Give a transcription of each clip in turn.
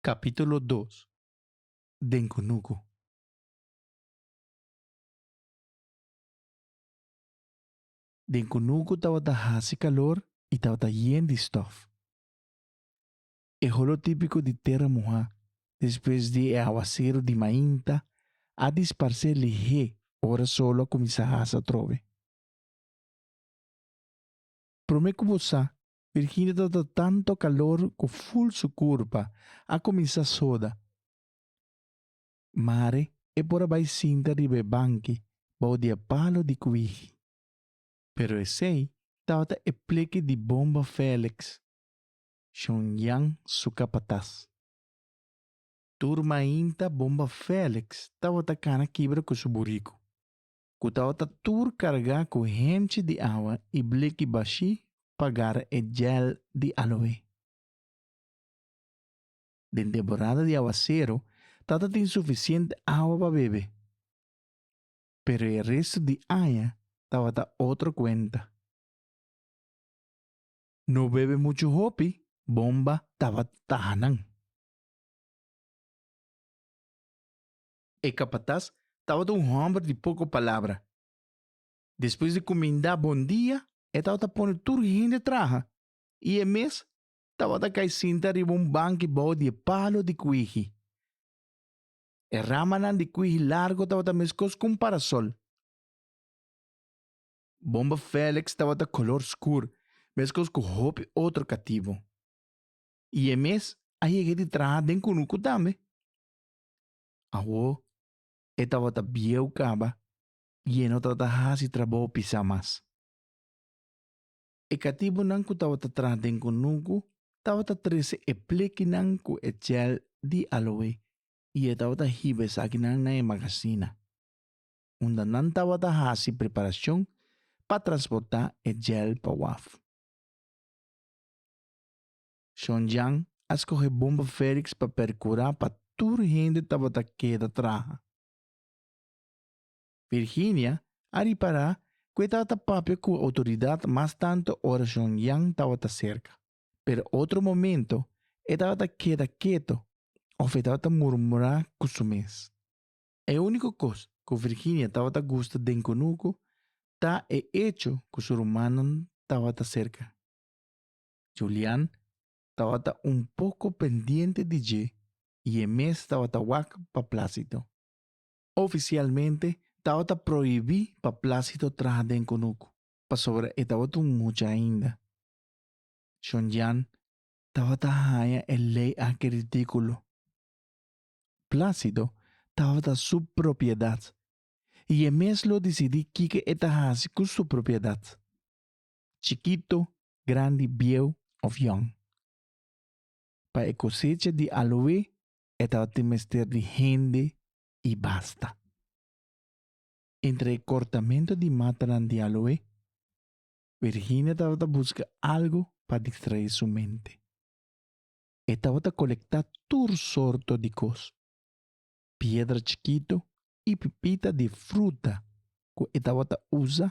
Capítulo dos den cunucu. Den cunucu tabata haci calor y tabata yen di stof. E holotipico di tera muha despues di e awaceru di mainta a disparce lihé ora solo a cuminsa hasa atrobe. Prome cu bo sa Virginia ta ta tanto calor cu full su curpa a cuminsa soda. Mare e por a bai sinta riba e banki bao di e palo di cuigi. Pero esey tabata e pleki di Bomba Felix, Shon Jan su capataz. Tur mainta Bomba Felix tabata cana kibra cu su buricu. ku tabata tur kargá ku henchi di awa i bliki bashí pa gara e jèl di aloé. Den temporada di awasero tabata tin sufisiente awa pa bebe, pero e restu di aña tabata otro kuenta. No bebe muchu hopi bomba tabata taha nan. E kapatas tabata un hòmber di poko palabra. Despues di kumindá bondia, e tabata pone tur hende traha i e mes tabata kai sinta riba un banki bou di e palo di kuigi. E ramanan di kuigi largu tabata meskos ku un parasòl. Bomba Fèlèks tabata kolor skur, meskos ku hopi otro katibu. I e mes a yega di traha den Kunuku tambe. Awo e tabata bieu kaba i e no tabata hasi trabou pisá mas. E katibunan ku tabata tras den kunuku tabata trese e plekinan ku e jèl di aloe i e tabata hiba esakinan na e magasina, unda nan tabata hasi preparashon pa transportá e jèl pa waf. Shon Jan a skohe Bomba Félix pa perkurá pa tur hende tabata keda traha. Virginia a ripará ku e tabata papia ku outoridat mas tantu ora Shon Jan tabata serka. Pero otro momento e tabata keda keto òf e tabata murmurá ku su mes. E úniko kos ku Virginia tabata gusta den kunuku ta e echo ku su rumannan tabata serka. Julian tabata un poco pendiente di dje y e mes tabata wak pa Plácido. Oficialmente tabata prohibí pa Plácido traha den kunuku pasobra e tabata un mucha ainda. Julian tabata haña e ley aki ridículo. Plácido tabata su propiedad y e mes lo dicidí kiko e ta haci cu su propiedad. Chikito grandi bieu of yòn. Pa e kosecha di aloe e tabatin mester di hende i basta. Entre e kortamentu di matanan di aloe, Virginia tabata buska algu pa distraé su mente. E tabata kolektá tur sorto di kos, piedra chikitu i pipita di fruta ku e tabata usa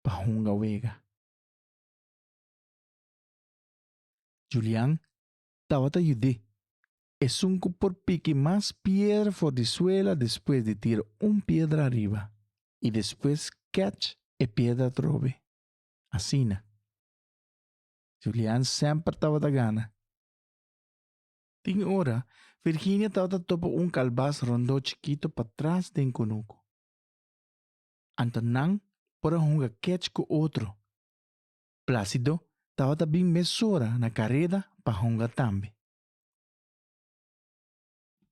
pa hunga wega. Julian tabata yud'é. Esun cu por piki mas piedra for di suela despues di tira un piedra ariba y despues catch e piedra atrobe. Asina. Julian semper tabata gana. Tin e ora, Virginia tabata topa un calbas rondo chikito patras den cunucu. Anto nan por a hunga kèch ku otro. Plásido tabata bin mesora na kareda pa hunga tambe.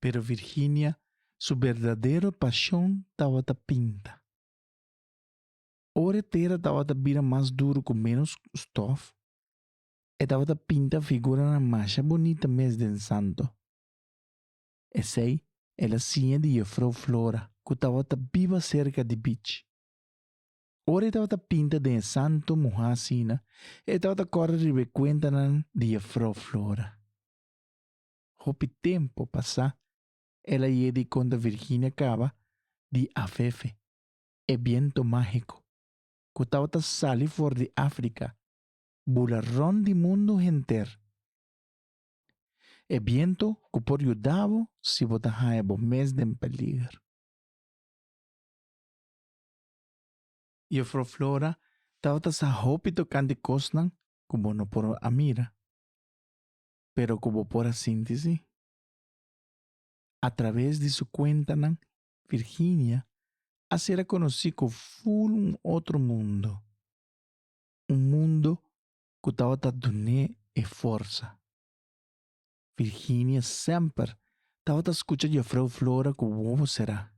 Pero Virginia su berdadero pashon tabata pinta. Ora e tera tabata bira mas duru ku ménos stòf, e tabata pinta figuranan masha bunita mes den santo. Esei el a siña di Jefrouw Flora, ku tabata biba serka di bich. Ora e tabata pinta den e santu muha asina, e tabata kòrda riba e kuentanan di Jefrouw Flora. Hopi tempu pasá, el a yega di konta Virginia kaba di afefe, e bientu mágiko, ku tabata sali for di Afrika, bula rònt di mundu henter. E bientu ku por yuda bo si bo ta haña bo mes den peliger. Jufro Flora tabata sa hopi tokante kosnan ku bo no por a mira, pero ku bo por a sinti si. Atraves di su kuentanan Virginia a ser a konosí ku ful un otro mundo, un mundo cu tabata dun'é e forsa. Virginia semper tabata scucha Juffrouw Flora cu wowo cerá.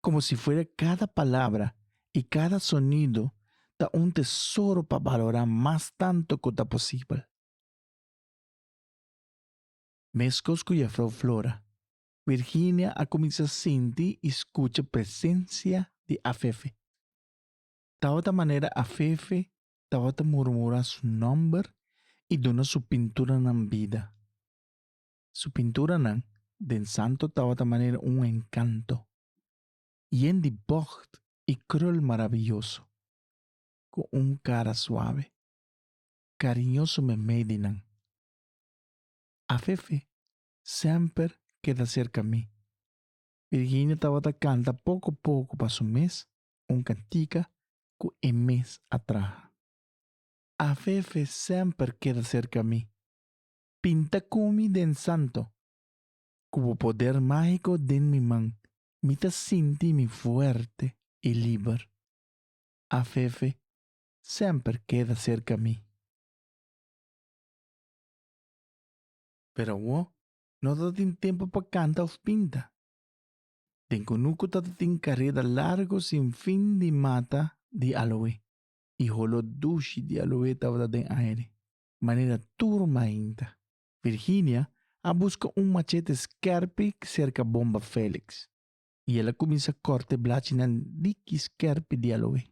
Como si fuera cada palabra i cada sonido ta un tesoro pa balorá mas tanto cu ta posibel. Mescos cu Juffrouw Flora, Virginia a cuminsá sinti i scucha presencia di Afefe. Tabata manera Afefe tabata murmurá su nòmber i duna su pinturanan bida. Su pinturanan den Santo tabata manera un enkanto, yen di bògt i krul marabioso, ku un kara suave, kariñoso memei di nan. Afefe semper keda serka mi. Virginia tabata kanta poko poko pa su mes un cantica cu e mes a traha. Afefe semper keda cerca mi. Pinta cu mi den santo. Cu bo poder magico den mi man mi ta sinti mi fuerte y liber. Afefe semper keda cerca mi. Pero awo no ta tin tempo pa canta of pinta. Den Conuco tatatin careda largo sin fin di mata di aloe y holo dushi di aloe tabata den aire, manera tur mainta. Virginia a busca un machete skerpi cerca Bomba Felix y el a cuminsa corte blachinan diki skerpi di aloe.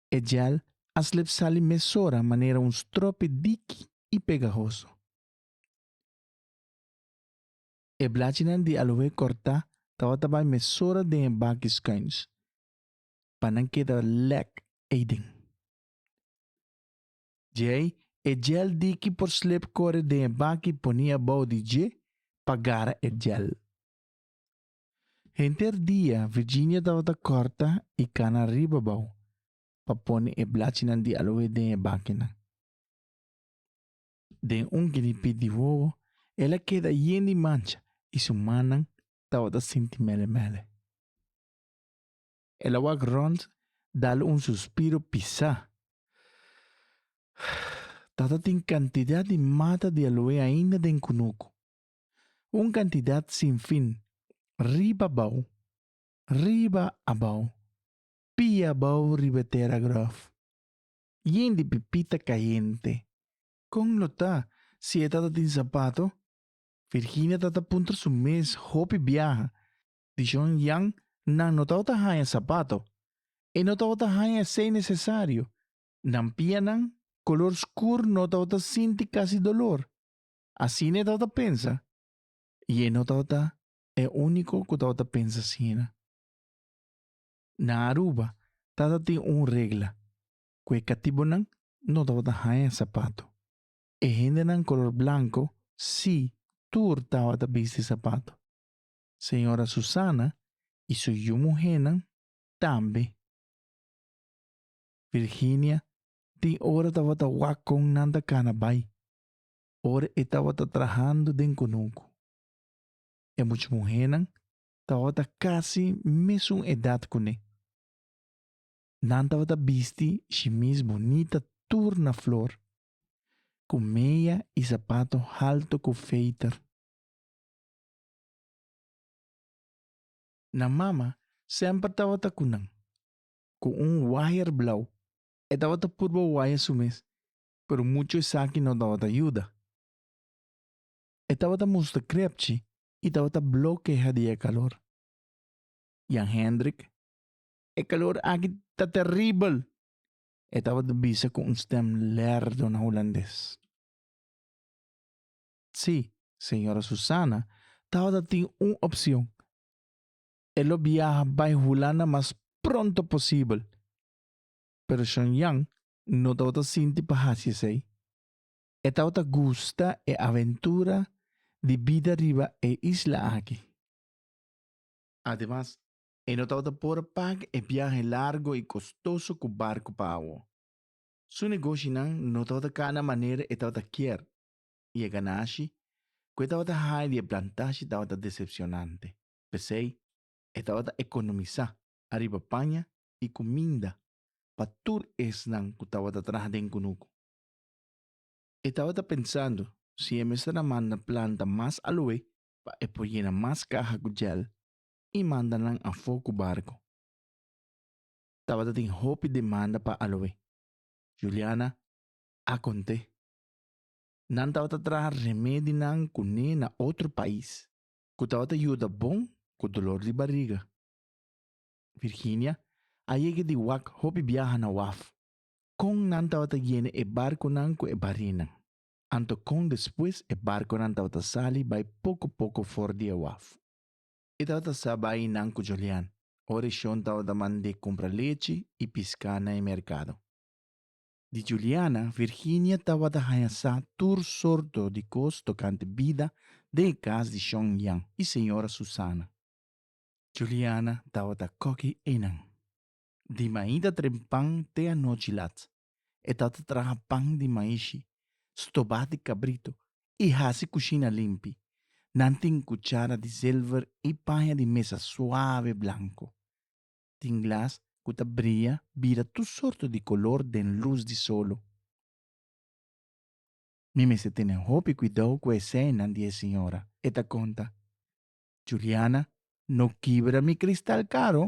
E gel a slep sali mesora manera un stropi diki y pegahoso. E blachinan di aloe corta tabata bai mesora den e baki schuins pa nan keda lek eyden. Djei e gel di ki por slip core den e baki poni abou di dje pa gara e gel. Henter dia Virginia tabata corta y cana riba bou pa poni e blachinan di aloe den e bakinan. den un ginipi di wowo, el a keda yen di mancha i su mannan tabata sinti mele mele. El a wak rònt, dal un suspiro pisá. Tabata tin kantidat di mata di aloe ainda den kunuku, un kantidat sin fin, riba abou, riba abou, pia abou riba e tera gròf. Yin di pipita cayente. Con lo ta si e tatatin zapato? Virginia tata puntra su mes hopi biaha. Dishon Yan nan no tabata haya zapato. E no tabata haya esey necesario. Nan pianan color scur no tabata sinti casi dolor. Asina e tabata pensa. Y e no tabata e unico cu tabata pensa asina. Na Aruba tabatin un regla cu e catibonan no tabata haña zapato. E hendenan color blanco si tur tabata bisti zapato. Señora Susana y su yu muhernan tambe. Virginia tin ora tabata wak con nan ta cana bay ora e tabata trahando den cunucu. E much muhernan tabata casi mesun edad cuné. Nan tabata bisti shimis bonita tur na flor, cu meya y zapato halto cu feiter. Nan mama semper tabata cu nan, cu un waaier blau, e tabata purba waaya su mes, pero mucho esaki no tabata yuda. E tabata musta krepchi i tabata blokea di e kalor. Jan Hendrik, E kalor aki ta teribel! e tabata bisa ku un stem lerdo na hulandes. Sí, señora Susana tabata tin un opsion. E lo biaha bai Hulanda mas pronto posibel, pero Shon Jan no tabata sinti pa hasi esei. E tabata gusta e aventura di bida riba e isla aki. Ademas, e no tabata por pag e biahe largo i kostoso ku barku pa awo. Su negoshinan no tabata kana manera e tabata kier, i e ganashi ku e tabata haña di e plantashi tabata desepshonante. P'esei, e tabata ekonomisá ariba paña i kuminda pa tur esnan ku tabata traha den kunuku. E tabata pensando si e mester a manda planta mas alué pa e por yena mas kaha ku jèl i manda nan afó ku barku. Tabata tin hopi demanda pa alué. Juliana a kont'é, Nan tabata traha remedinan kuné na otro pais ku tabata yuda bon ku dolor di bariga. Virginia a yega di wak hopi biaha na waf Kon nan tabata yena e barkunan ku e barinan, anto kon despues e barkunan tabata sali bai poko poko for di e waf? E tabata sa bai nan ku Julian, ora e shon tabata mand'é kumpra lechi i piská na e merkado. Di Juliana, Virginia tabata haña sa tur sorto di kos tokante bida den e kas di shon Jan i señora Susana. Juliana tabata koki einan. di maí ta tren pan te anochi lat. E tata traha pan di maí shi, stobá di kabrito i hasi kushina limpi. Nan tin kuchara di zilver i paña di mesa suave blanko. Tin glas ku ta bria bira tur sorto di kolor den lus di solo. Mi mester tene hopi kuidou ku e seinan di e siñora, e ta konta. Juliana no kibra mi kristal karo,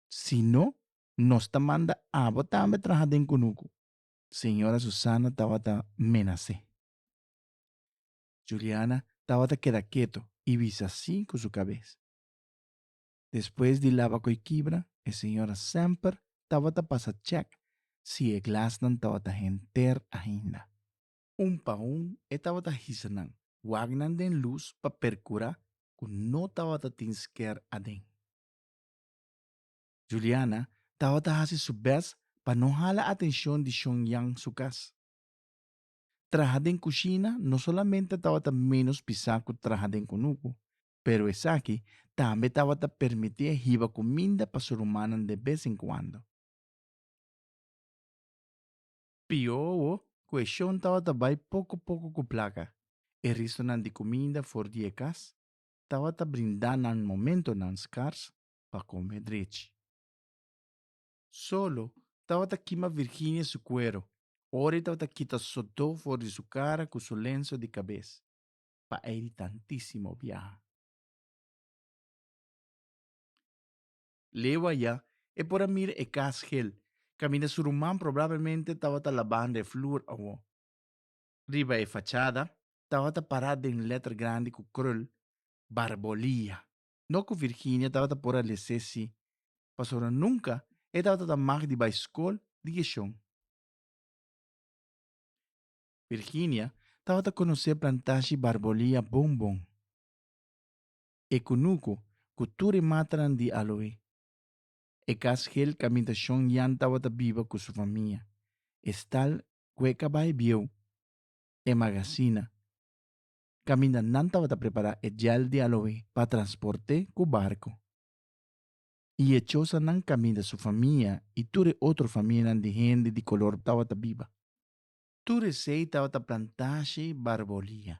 Si no, nos ta manda abo tambe traha den kunuku. Señora Susana tabata menasé. Juliana tabata keda keto i bisa sí ku su kabes. Despues di laba koi kibra, e señora semper tabata pasa chèk si e glasnan tabata henter ainda. Un pa un e tabata hisa nan wak nan den lus pa perkurá ku no tabata tin sker aden. Juliana tabata hasi su bes pa no hala atencion di Shon Yan su cas. Traha den cushina no solamente tabata menos pisa cu traha den cunucu, pero esaki tambe tabata permiti'e hiba cuminda pa su rumannan de bes en cuando. Piowo cu e Shon tabata bay poco poco cu placa e ristonan di cuminda for di e cas. tabata brindá nan momentonan skars pa kome drechi. Solo tabata kima Virginia su kuero ora e tabata kita sodó for di su kara ku su lenso di kabes pa ei di tantísimo biaha. Lewa ya e por a mira e kas hel kaminda su ruman probablemente tabata labando e flur awó. Riba e fachada tabata pará den lèter grandi ku krul, Barbolia. No ku Virginia tabata por a lesé sí, pasobra nunka e tabata ta mag di bai skol di Geshon. Virginia tabata konosé plantashi Barbolia bon bon. E kunuku ku tur e matanan di aloe. E kas hel kaminta Shon Yan tabata biba ku su famia. E stal kue ka bai bieu e magasina, kaminda nan tabata prepará e djèl di aloé pa transport'é ku barku. I e chosanan kaminda su famia i tur e otro famianan di hende di kolor tabata biba. Tur esei tabata plantashi barbolia,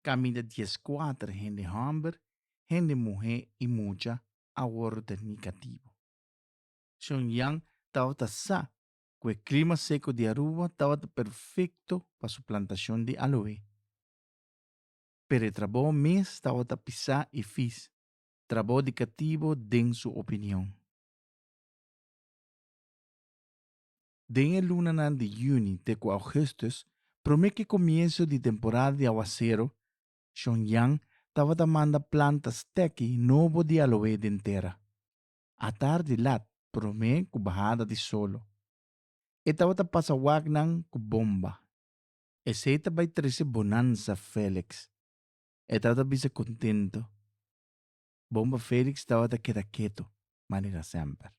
kaminda dies kuater hende hòmber, hende muhé i mucha a wòrdu tèrmí katibu. Shongyang tabata sa ku e klima seku di Aruba tabata perfekto pa su plantashon di aloe. Pero e trabou mes tabata pisá i fis, trabou di katibo den su opinion. Den e lunanan di yuni te ku augustus, promé ku e komienso di temporada di awasero, Shongyang tabata manda plantas teki nobo di aloe den tera. a tardi lat promé ku bahada di solo. E tabata pasa waknan ku bomba. Esei ta bai trese bonansa Félix. E tabata bisa kontentu. Bomba Félix tabata keda ketu, manera semper.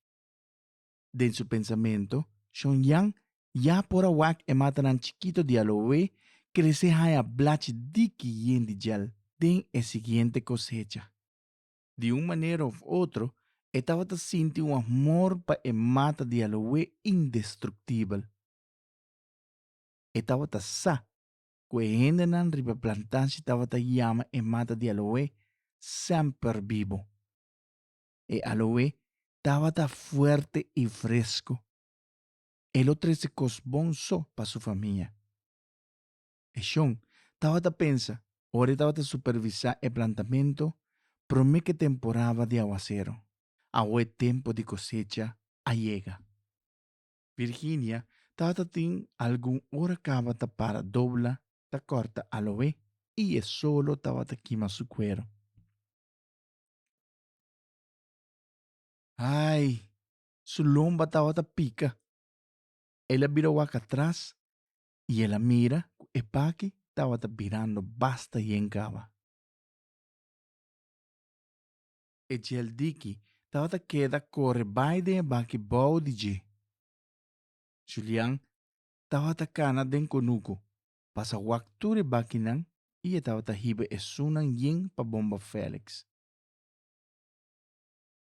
Den su pensamentu, Shon Jan ya por a wak e matanan chikitu di aloe krese haña blachi diki yen di djel den e siguiente kosecha. Di un manera of otro, e tabata sinti un amor pa e mata di aloe indestruktibel. E tabata sa ku e hendenan riba e plantashi tabata yama e mata di aloe semper bibo. E aloe tabata fuerte i fresku. E lo trese kos bon so pa su famia. e shon, tabata pensa, ora e tabata supervisá e plantamentu, promé ke temporaba di awasero, awo e tempu di kosecha a yega. Virginia tabata tin algun ora kaba ta para dobla ta kòrta aloe i e solo tabata kima su kuero. Ai, su lomba tabata pika! El a bira wak atras I el a mira ku e paki tabata birando basta yen kaba. E djeldiki tabata keda kore bai den e baki bou di dje. Julian tabata kana den konuko, pasa wak tur e bakinan i e tabata hiba esunnan yen pa bomba Felix.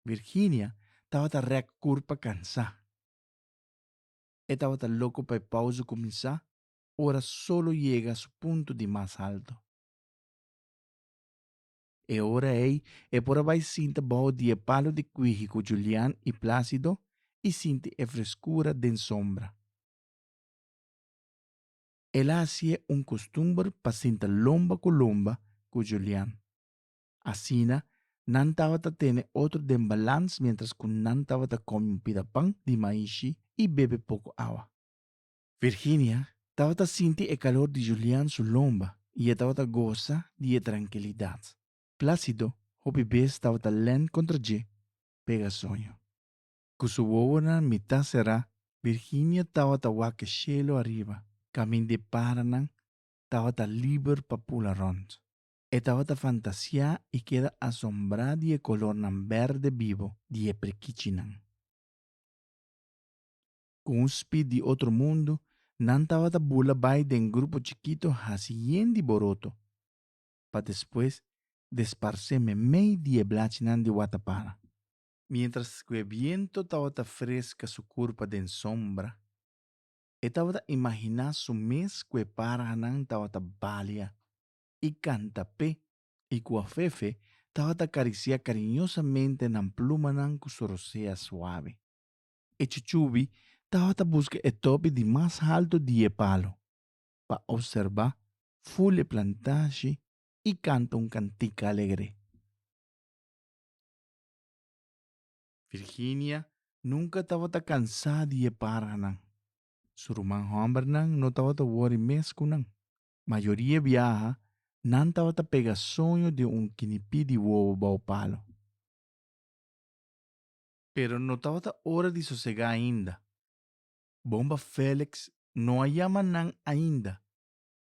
Virginia tabata rèk kurpa kansá. E tabata loko pa e pausa kuminsá ora solo yega su punto di mas halto. E ora ei e por a bai sinta baho di e palo di kuigi ku Julian i Plácido i sinti e freskura den sombra. El a hasié un kustumber pa sinta lomba ku lomba ku Julian. Asina, nan tabata tene otro den balans miéntras ku nan tabata kome un pida pan di maishi i bebe poko awa. Virginia tabata sinti e kalor di Julian su lomba i e tabata gosa di e trankilidat. Plácido hopi bes tabata lènt kontra dje pega soño. Ku su wowonan mitá será, Virginia tabata wak shelu ariba, kaminda e paranan tabata liber pa pula rònt. E tabata fantasiá i keda asombrá di e kolornan bèrdè bibo di e prikichinan. Ku un spit di otro mundu, nan tabata bula bai den grupo chikitu hasi yen di boroto, pa despues desparsé memei di e blachinan di watapara. Miéntras ku e biento tabata freska su kurpa den sombra, e tabata imaginá su mes ku e parhanan tabata balia. i kanta p'e, i ku afefe tabata karisiá kariñosamente nan plumanan ku su rosea suave. E chuchubi tabata buska e topi di mas haltu di e palu pa opserbá ful e plantashi i kanta un kantika alegre. Virginia nunka tabata kansá di e parhanan. Su ruman hòmbernan no tabata wòri mes ku nan. Mayoria biaha nan tabata pega soño di un kinipí di wowo bou palo. Pero no tabata ora di sosegá ainda. Bomba Félix no a yama nan ainda.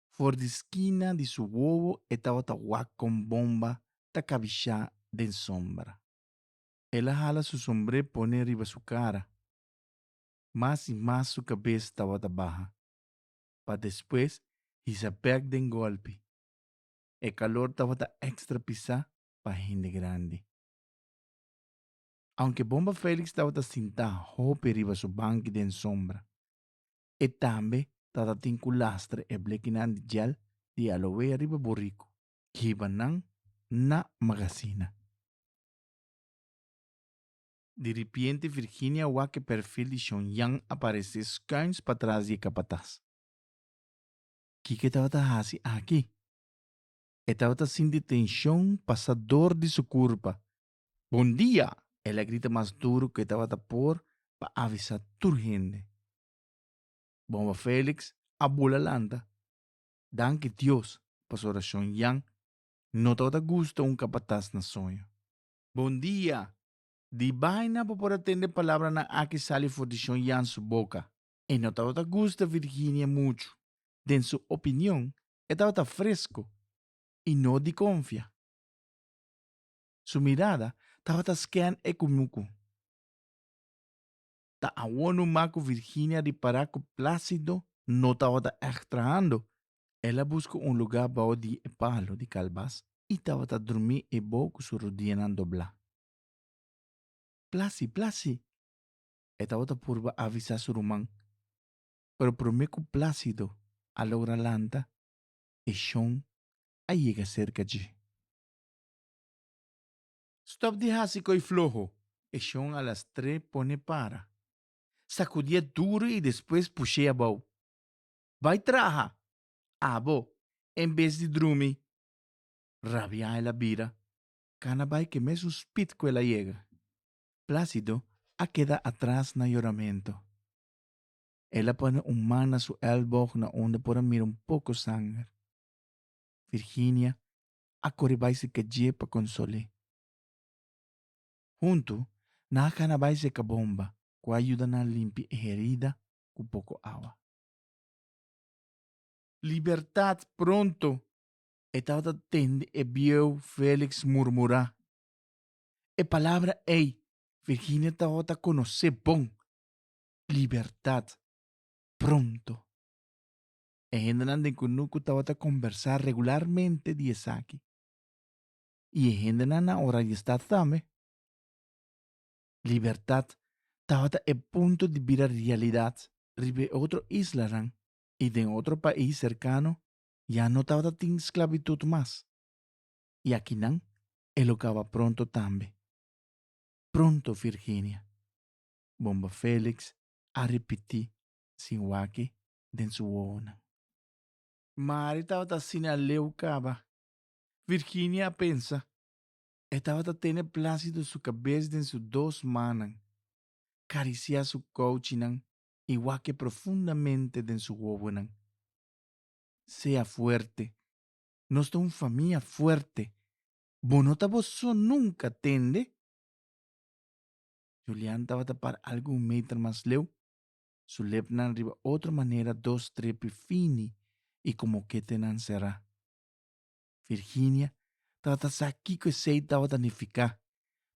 For di skina di su wowo e tabata wak kon Bomba ta kabishá den sombra. El a hala su sombré pone riba su kara. Mas i mas su kabes tabata baha. pa despues hisa bek den golpi. E kalor tabata ekstra pisá pa hende grandi. Aunke Bomba Félix tabata sintá hopi riba su banki den sombra, e tambe tatatin ku lastra e blekinan di jel di aloea riba buriku. Hiba nan na magasina. Diripiente Virginia wak e perfil di Shon Yan aparesé skuins pa tras di e kapatas. Kiko e tabata hasi aki? E tabata sinti tenshon pasá dor di su kurpa. Bon dia! el a grita mas duru ku e tabata por pa avisá tur hende. Bomba Felix a bula lanta. Danki Dios, pasobra Shon Yan no tabata gusta un kapatas na soño. Bon dia! Di baina bo por a tende palabranan aki sali for di Shon Yan su boka, E no tabata gusta Virginia muchu. Den su opinion, e tabata fresco y no di confia. Su mirada tabata scan e cu mucu. Ta awor nu ma cu Virginia ripara cu Placido no tabata echt trahando El a buska un lugá bou di e palu di kalbas i tabata drumí ebou ku su rudianan doblá. Plasi, plasi! E tabata purba avisá su ruman, pero promé ku Plásido a logra lanta, e shon a yega serka dje. Stòp di hasi koi floho! e shon a las tre pone para, sakudié duru i despues push'é abou. Bai traha, abo, en bes di drumi. Rabia el a bira, cana bai cu e mesun spit cu el a yega. Plácido a keda atras na yoramento. El a pone un man na su elboog na unda por a mira un poco sanger. Virginia a core bai cerca dje pa consol'é. Hunto nan a cana bai cerca bomba cu a yuda nan limpi e herida cu poco awa. Libertad pronto! E tabata tende e bieu Felix murmurá. E palabra ei Virginia tabata conocé bon, libertad pronto! E hendenan den Kunuku tabata conversá regularmente di esaki. I e hendenan na Oranjestad tambe. libertat tabata e punto di bira realidad riba e otro islanan y den otro pais cercano ya no tabata tin sclavitud mas. Y akinan e lo caba pronto tambe. Pronto Virginia. Bomba Felix a ripiti sin waki den su wowonan. Mari tabata asina leu caba. Virginia a pensa, E tabata tene plásido su kabes den su dos mannan, karisiá su kouchinan i wake profundamente den su wowonan. Sea fuerte, nos ta un famia fuerte, bo no ta bo so nunka, tende? Julian tabata para algun meter mas leu, su lepnan riba otro manera dos trepi fini i ku moketenan será. Virginia, tabata sa kiko esei tabata nifiká,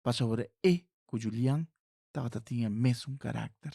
pasobra e ku Julian tabata tin e mesun karakter.